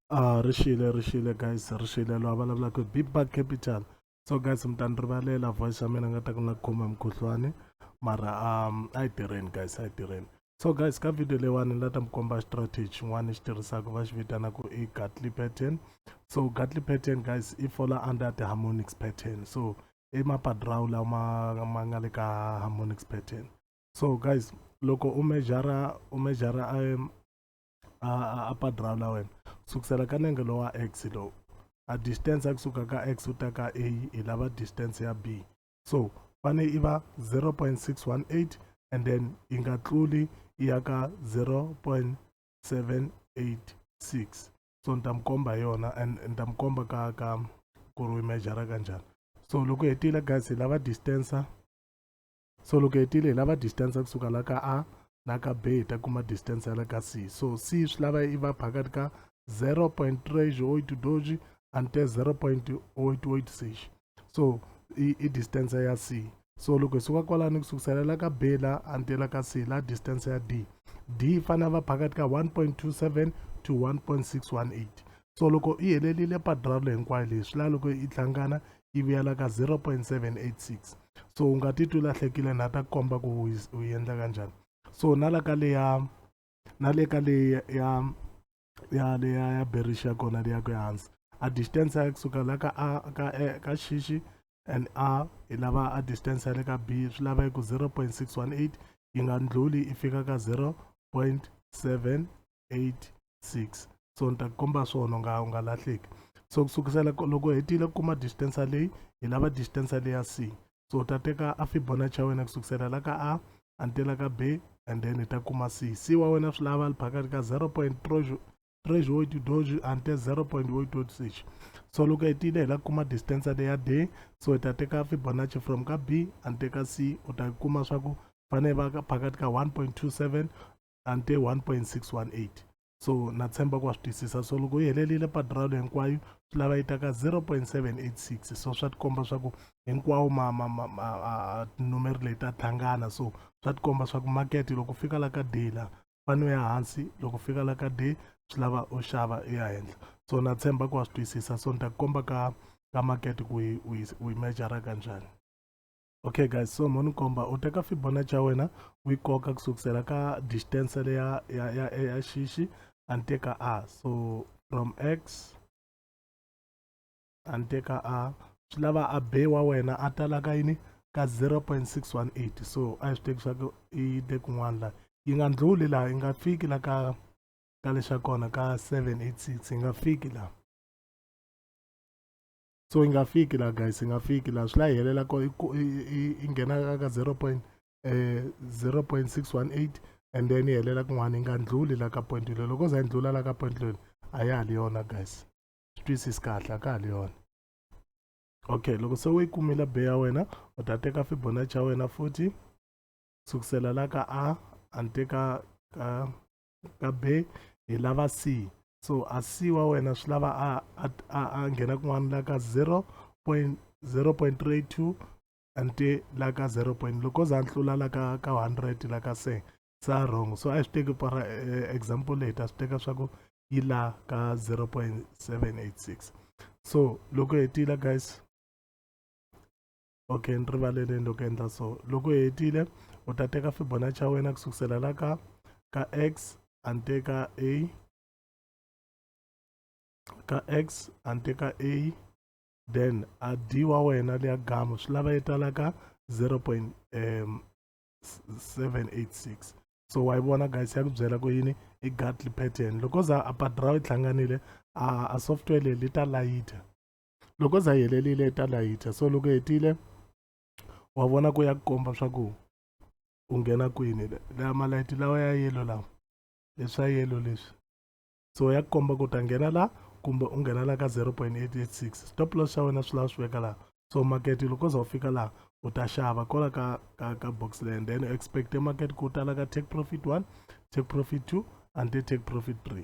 ah ri xile ri xile guys ri xile loyi a vulavulaka big bag capital so guys mi ta ni rivalela voice ya mina nga ta ku na khoma mukhuhlwani mara um a yi tirheni guys a yi tirheni so guys ka video leyiwani ni la ta mi komba strategy xin'wana xi tirhisaka va xi vitanaka i gatly pattern so gatly pattern guys i fola under the harmonics pattern so i mapadrawu lawa ma ma nga le ka harmonics pattern so guys loko u mejara u mejara um, a padraw la wena sukusela ka nenge lowa x lowu a distance ya kusuka ka x u ta ka a hi lava distance ya b so fane i va 0.618 and then yi nga tluli yi ya ka 0.786 so ni ta mi komba hi yona and ni ta mi komba ka ka ku ri u mejara ka njhani so loko hetile guys hi lava distance so loko hetile hi lava distance kusuka la ka a na ka b hi ta kuma distance ya la ka c so c swi lava yi va phakati ka 0.3 doji ante 0.886 so i, i distance ya c so loko hi suka kwalani kusukusela la ka b la ante la ka c la distance ya d d yi fanele va phakati ka 1.27 to 1.618 so loko yi helelile padralo hinkwayo leyi swi laha loko yi hlangana yi vuyela ka 0.786 so u nga titwi lahlekile na ta komba ku u endla kanjhani so na la ka leya na le ka leyi ya ya leya ya berixa kona leya ku ehansi a distance ya kusuka la ka a ka e ka xixi and a hi lava a distance ya le ka b swi lava yi ku 0.618 yi nga ndlhuli yi fika ka 0.7 86 so ni ta ku komba swona u nga u nga lahleki so ku sukisela loko u hetile ku kuma distance leyi hi lava distance leyi ya c so u ta teka a fibonacci ya wena ku sukisela la ka a antela ka b and then hi ta kuma c c wa wena swi lava li phakati ka 0 point treasure wo doji ante 0 point wo dodisixi so loko hetile hi la kuma distance leyi ya d so hi ta teka fibonacci from ka b ante ka c u ta kuma swa ku fanele va phakati ka 1.27 ante 1.618 so na tshemba ku wa swi twisisa so loko yi helerile padralo hinkwayo swi lava yi ta ka 0.786 so swa tikomba swa ku hinkwawo numeri leyi ta tlhangana so swa tikomba swa ku market loko fika la ka day la fane u ya hansi loko fika la ka day swi lava u xava u ya henhla so na tshemba ku wa swi twisisa so ni ta ku komba ka ka market ku u yi mejara kanjhani okay guys so mo ni komba u teka fibonacci ya wena u yi koka ku sukusela ka distance le ya ya ya, ya xixi a ni teka a so from x a ni teka a swi lava a be wa wena a tala ka yini ka 0.618 so a yi swi teki swa ku i te kun'wana laha yi nga ndluli laha yi nga fiki la ka ka lexa kona ka 786 yi nga fiki laha so yi nga fiki laha guys yi nga fiki laha swi la yi helela ko yi nghena ka zero point eh, zero point six one eight and then yi helela kun'wana yi nga ndluli la ka point leyi loko za yi ndlula la ka point leyi a ya ha li yona guys swi twisisi kahle a ka ha li yona okay loko se u yi kumile be ya wena u ta teka fibonacci ya wena futhi sukusela la ka a a ni teka ka ka be hi lava c so a c wa wena swi lava a a a, a nghena kun'wana la ka 0.0.32 ante la ka 0 point loko za ntlula la ka ka 100 la ka se sa wrong so a swi teki para eh, example leyi ta swi teka swa ku yi la ka 0.786 so loko hetile guys okay ni rivaleleni loko endla so loko hetile u ta teka fibonacci xa wena ku sukusela la ka ka x a ni teka a ka x a ni teka a then a d wa wena leya gamu swi lava yi tala ka 0.786 so wa yi vona guys ya ku byela ku yini i gatly pattern loko za a padra yi hlanganile a software leyi li ta layita loko za yi helerile yi ta layicha so loko hetile wa vona ku ya ku komba swa ku u nghena kwini laha malayithi lawa ya yelo lawa leswa yelo leswi so ya ku komba ku ta nghena la kumbe u nghena la ka 0.886 stop loss xa wena swi lava swi veka laha so market loko za u fika laha u ta xava kola ka ka ka box land then expect market ku tala ka take profit 1 take profit 2 and take profit 3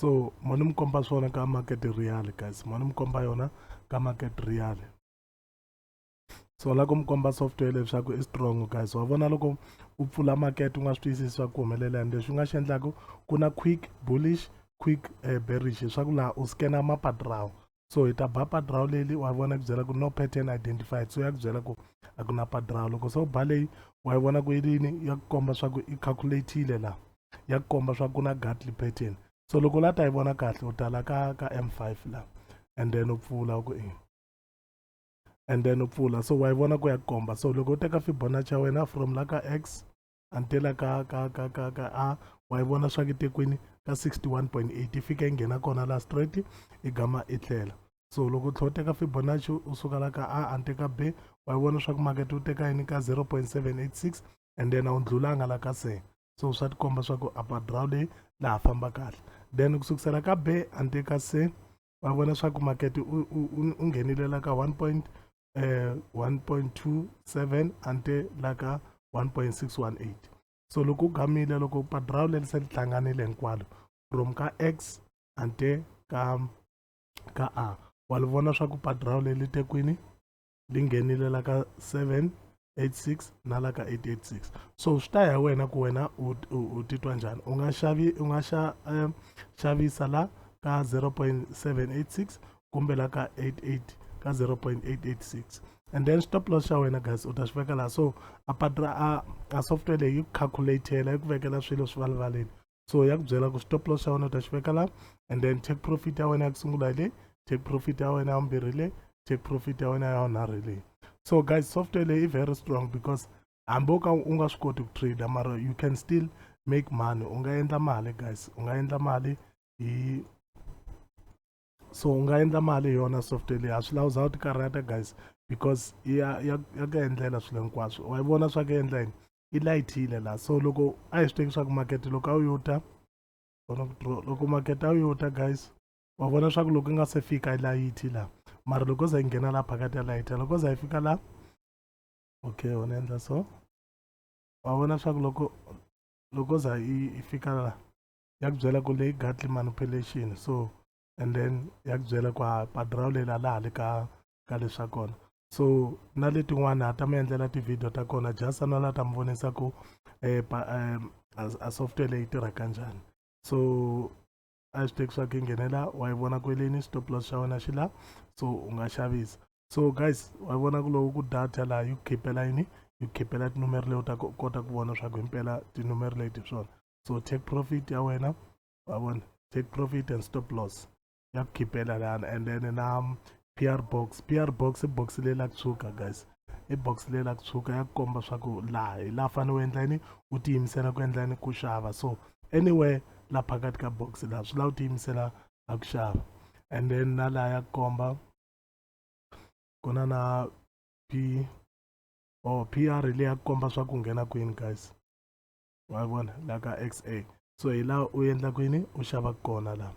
so mo ni mi komba swona ka market real guys mo ni mi komba yona ka market real so la ku mi komba software leswaku i strong guys wa vona loko u pfula market u nga swi twisisi swa ku humelela and leswi u nga xi endlaku ku na quick bullish quick uh, bearish swa ku laha u scanner mapatirawo so hi ta ba padrawu leli wa vona ku byela ku no pattern identified so ya ku byela ku a ku na padrawu loko se u ba leyi wa yi vona ku yi rini ya ku komba swa ku i calculatile laha ya ku komba swa ku na gatly pattern so loko la ta yi vona kahle u tala ka ka m5 laha and then u pfula ku e and then u pfula so wa yi vona ku ya ku komba so loko u teka fibonacci ya wena from la ka x until a ka ka ka ka ka a wa yi vona swa kitekwini ka 61.8 yi fika yi nghena kona la straight i gama i tlela so loko u tlhe u teka fibonacci u suka la ka a ante ka b wa yi vona swa ku makete u teka yini ka 0.786 and then a wu ndlulanga la ka se so swa tikomba swa ku upper draw leyi laha famba kahle then ku sukusela ka b ante ka se va vona swa ku makete u nghenile la ka 1 point eh, 1.27 ante la ka 1.618 so loko u gamile loko padrawu leri se li hlanganile hinkwalo from ka x ante ka ka a wa li vona swa ku padrawu leli te kwini li nghenile la ka 7 86 na la ka 886 so swi ta ya wena ku wena u titwa njhani u nga xavi u nga xa um, xavisa la ka 0.786 kumbe la ka 88 ka 0.886 and then stop loss xa wena guys u ta swi veka laha so a patra a, a software leyi yi ku calculatela yi ku vekela swilo swi valivaleni so ya ku byela ku stop loss xa wena u ta xi veka la and then take profit ya wena ya ku sungula le take profit ya wena ya vumbirhi le take profit ya wena ya vunharhu le so guys software leyi i very strong because hambi u ka u nga swi koti ku trader mara you can still make money u nga endla mali guys u nga endla mali hi so u nga endla mali hi yona software leyi a swi lawu za u ti karhata guys because ya ya ya ku endlela swilo hinkwaswo wa yi vona swa ku endla yini yi layithile la so loko a hi swi teki swa ku makete loko a wu yo ta vona ku draw loko makete a wu yo ta guys wa vona swa ku loko yi nga se fika yi layithi la mara loko za yi nghena la phakati ya layitha loko za yi fika la okay wona endla so wa vona swa ku loko loko za yi fika la ya ku byela ku leyi gatly manipulation so and then ya ku byela ku ha padraw leyi la laha le ka ka leswa kona so na letin'wana ha ta mi endlela tivhidiyo ta kona jasa na la ta mi vonisa ku eh, eh, a software leyi tirha kanjhani so a swi teki swa ku nghenela wa yi vona kweleni stop loss xa wena xi la so u nga xavisa so guys wa yi vona ku loko ku data laha yi ku khipela yini yi ku khipela tinumero leyi u ta kota ku vona swa ku himpela tinumero leti swona so take profit ya wena wa vona take profit and stop loss ya ku khipela lana and then na pr box pr box i box leyi la ku tshuka guys i box leyi la ku tshuka ya ku komba swa ku laha hi laha fanele u endla yini u tiyimisela ku endla yini ku xava so anywhere la phakathi ka box laha swi lava u tiyimisela a ku xava and then na laha ya ku komba ku na na p or oh, pr leyi ya ku komba swa ku nghena kwini guys wa vona la ka xa so hi laha u endlaka yini u xavaka kona laha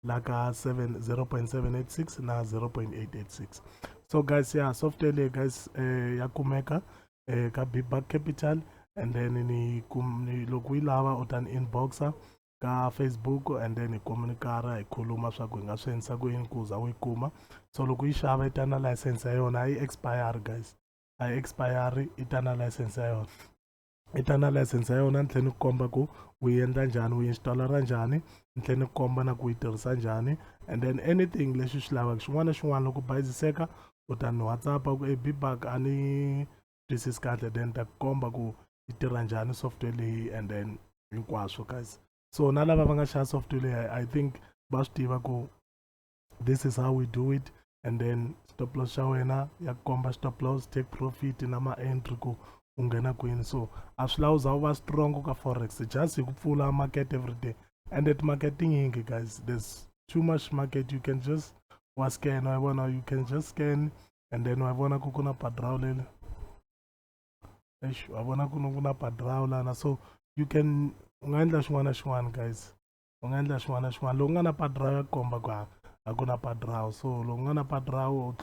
la ka 0.786 na 0.886 so guys ya yeah, software leyi guys eh, ya kumeka eh, ka bigback capital and then ni, kum, ni loko yi lava u ta ni inboxa ka facebook and then hi communikara hi khuluma swa ku hi nga swi endlisa ku yini ku za u yi kuma so loko yi xava yi ta na license ya yona a yi expire guys a yi expire yi ta na license ya yona i ta na license ya yona ni tlhela ni ku komba ku u yi endla njhani u yi installera njhani ni tlhela ni ku komba na ku yi tirhisa njhani and then anything leswi swi lavaka xin'wana na xin'wana loko bayiziseka u ta ni whatsapp ku e bibak a ni twisisi kahle then ta ku komba ku yi tirha njhani software leyi and then hinkwaswo guys so na lava va nga xava software leyi i think va swi tiva ku this is how we do it and then stop loss xa wena ya komba stop loss take profit na ma-entry ku u nghena kwini so a swi lawu za u va strong ka forex just hi ku pfula market every day and at market tinyingi guys there's too much market you can just wa scan wa vona you can just scan and then wa vona ku ku na padraw lele eish wa vona ku ku na padraw lana so you can u nga endla xin'wana na xin'wana guys u nga endla xin'wana na xin'wana loku nga na padra ya ku komba ku a a ku na padrawu so loku nga na padrawu u